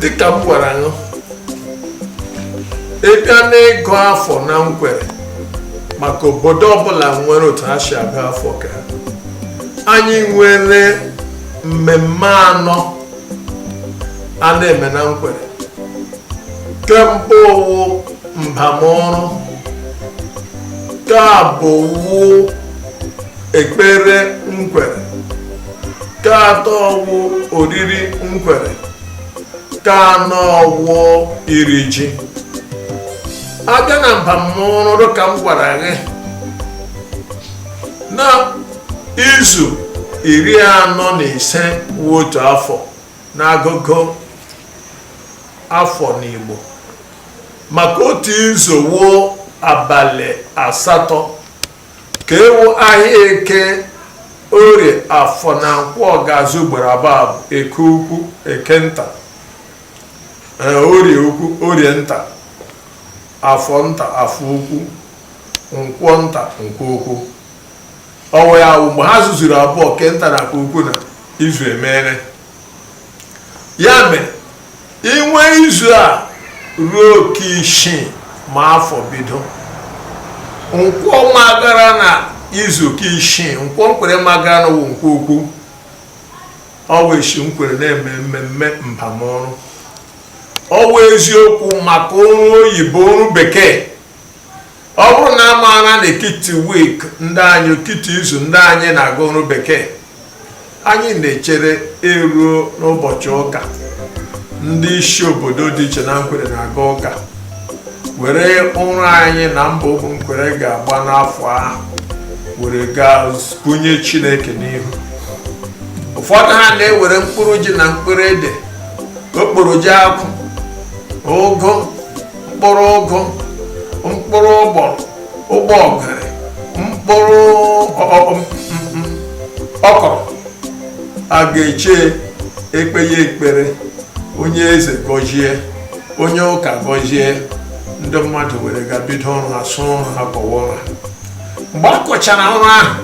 dịka m gwara nụ ịbịa n'ịgụ afọ na nkwere maka obodo ọbụla nwere otu ha si agụ afọ ka anyị nwere mmemme anọ a na-eme na nkwere ke mbụ wụ mbamọrụ ke abụọ wụ ekpere nkwere ke atọ wụ oriri nkwere ke anọ wụ iri ji a bịa na mbamọrụ ka m gwara gị na izu iri anọ na ise wụ otu afọ n'agụgụ afọ n'Igbo maka otu izu wụ abalị asatọ ke wụ ahịa eke orie afọ na nkwọ ga-azụ ugboro abụọ eke ukwu eke nta e, orie ukwu orie nta afọ nta afọ ukwu nkwọ nta nkwọ ukwu ọwụ ya wụ mgbe ha zụzuru abụọ ke nta na ke ukwu na izu emere ya mere inwe izu a ruo ke isii ma afọ bido nkwọ magara na izu ke isii nkwọ nkwere magara na wụ nkwọ ukwu ọwụ eshi nkwere na-eme mmemme mbamọrụ ọwụ eziokwu maka ọrụ oyibo ọrụ bekee ọ bụrụ na a maara na ekiti week ndị anyị ekiti izu ndị anyị na-aga ọrụ bekee anyị na-echere e ruo n'ụbọchị ụka ndị isi obodo dị iche na nkwere na-aga ụka were ọrụ anyị na mbọ ụmụ nkwere ga-agba n'afọ ahụ were gaa bunye chineke n'ihu ụfọdụ ha na-ewere mkpụrụ ji na mkpụrụ ede okporo ji akwụ ụgụ mkpụrụ ụgụ mkpụrụ ụgbọrọ ụgbọgịrị mkpụrụ ọkọrọ a ga-eche e kpee ya ekpere onye eze gọzie onye ụka gọzie ndị mmadụ were ga bido ọrụ ha sụọ ọrụ ha kọwa ọrụ ha mgbe a kọchara ọrụ ahụ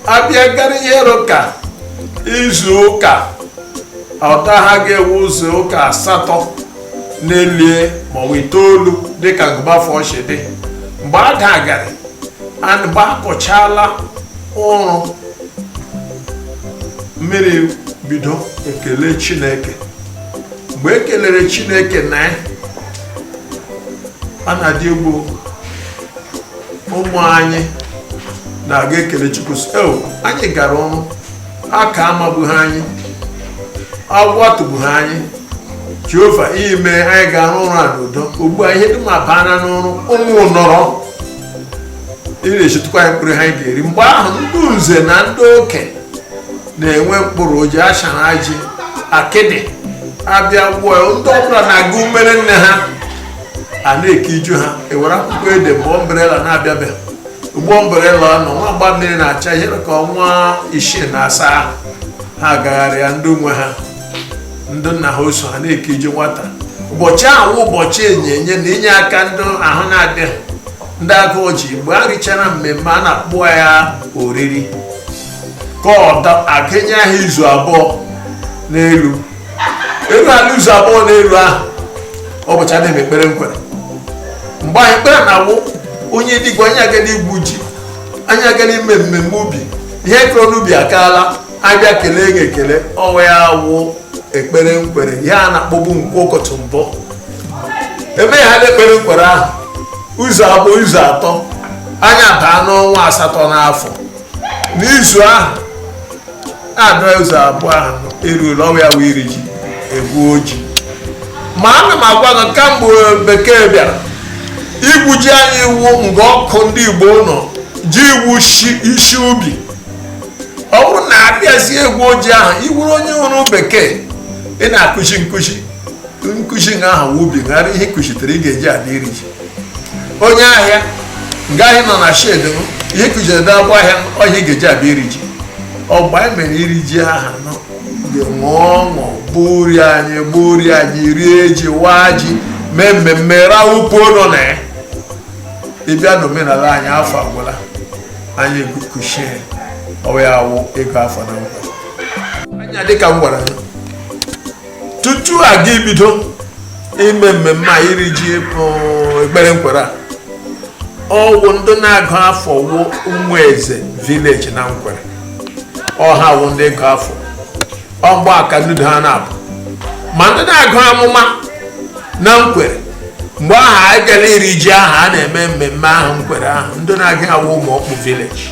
a bịa gara ihe ruru ka izu ụka ọta ha ga-ewe izu ụka asatọ n'elu e, ma ọ bụ itoolu dịka gụba afọ shi dị mgbe a dagara mgbe a kọchaala ọrụ mmiri bido ekele chineke mgbe ekelere chineke na ya a na-adị egwu ụmụ anyị na-aga ekele chukwu sị anyị gara ọrụ aka amagbughị anyị agwọ atụgbughị anyị jehova i mee anyị ga-arụ ọrụ a n'udo ugbu a ihe dum abana n'ọrụ ụmụ nọrọ ị na-echetukwa anyị mkpụrụ ihe anyị ga-eri mgbe ahụ ndị nze na ndị okenye na-ewe mkpụrụ oji ashara ji akịdị abịa gwụọ ya ndị ọbụla na-aga umere nne ha a na-eke iju ha ewere akwụkwọ ede mgbe umbrella na-abịabeghị ugbu a umbrella nọ nwa agba mmiri na-acha ihe ka ọnwa isii na asaa ha agagharịa ndị nwe ha ndị nna ha oso ha na-eke iju nwata ụbọchị ahụ ụbọchị onyinye na inye aka ndị ahụ na-adịghị ndị agụụ ji mgbe a richara mmemme a na-akpọ ya oriri ka ọ a ga-enye ha izu abụọ n'elu elu ala izu abụọ n'elu ahụ ụbọchị a na-eme ekpere nkwere mgbe anyị kpere na awụ onye dịgwa anyị agala igwu ji anyị agala ime mmemme ubi ihe a kụrụ n'ubi akaala abịa kelee gị ekele ọ wụ ya wụ ekpere nkwere ihe a na-akpọbu nkwọ ụkọtụ mbụ emeghala ekpere nkwere ahụ izu abụọ izu atọ anyị abaa n'ọnwa asatọ n'afọ n'izu ahụ adụọ izu abụọ ahụ eruola ọ wụ ya wụ iri ji egwu oji ma ana m agwa gị kamgbe bekee bịara igwu ji anyị iwu mgbe ọkụ ndị igbo nọ ji iwu isi ubi ọ bụrụ na abịazie egwu oji ahụ ị wụrụ onye ọrụ bekee ị na-akụzi nkụzi nkụzi nga ahụ ubi ghara ihe kụzitere ị ga-eji adị iri ji onye ahịa nga ahụ ị nọ na shed ihe kụjere bịa gwa ahịa m ọhịa ị ga-eji abịa iri ji ọgba anyị mere iri ji aha nọ ṅụọ ọṅụ gburi anyị gburi anyị rie ji waa ji mee mmemme rawụpụ nọ na ya ị bịa n'omenala anyị afọ agwụla anyị kuchie ọ wụ ya wụ ịgụ afọ na nkwere anyị dịka m gwara gị tutu a ga ibido ime mmemme a iri ji ekpere nkwere ọ wụ ndị na-agụ afọ wụ ụmụ eze village na nkwere ọ ha wụ ndị gụ afọ ọgba aka nnudo ha na-abụ ma ndị na-agụ amụma na nkwere mgbe ahụ agala iri ji ahụ a na-eme mmemme ahụ nkwere ahụ ndị na-agụ ya wụ ụmụ ọkpụ village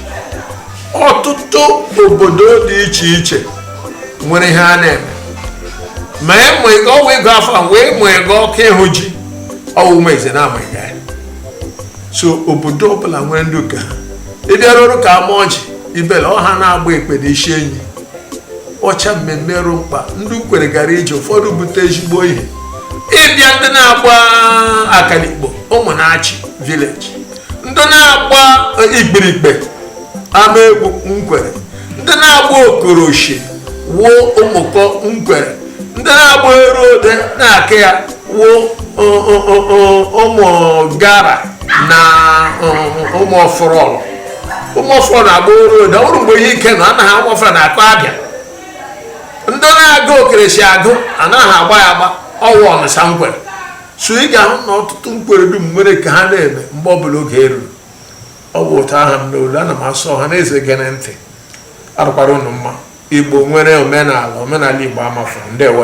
ọtụtụ obodo dị iche iche nwere ihe a na-eme ma ịmụ ego ọwa ego afọ a wee mụ ego ọkụ ịhụ ji ọwụ ma eze na-ama ya so obodo ọbụla nwere ndị nke ha ị bịaruru ka amaọjị ibele ọha na-agba ekpe na isi enyi ọcha mmemme rụ mkpa ndị nkwere gara ije ụfọdụ bute ezigbo ihe ị bịa ndị na-agba akalikpo ụmụnachi village ndị na-agba ikpirikpe amaegwu nkwere ndị na-agba okoroshi wụ ụmụkọ nkwere ndị na-agba erode n'aka ya wụ ụmụgara na ụmụọfọrọlọ ụmụọfọrọlọ na-agba erode ọ bụrụ mgbe ihe ike na anaghị ụmụọfọrọlọ na-akọ abịa ndị na-agụ okerechi agụ anaghị agba ya agba ọ wụ ọnụsa nkwere so ị ga-ahụ na ọtụtụ nkwere dum nwere nke ha na-eme mgbe ọbụla oge eruru ọ bụ ụtọ aha m n'olu ana m asị ọha na eze gere ntị arụkwara ụnụ mma igbo nwere omenala omenala igbo amafọ ndewo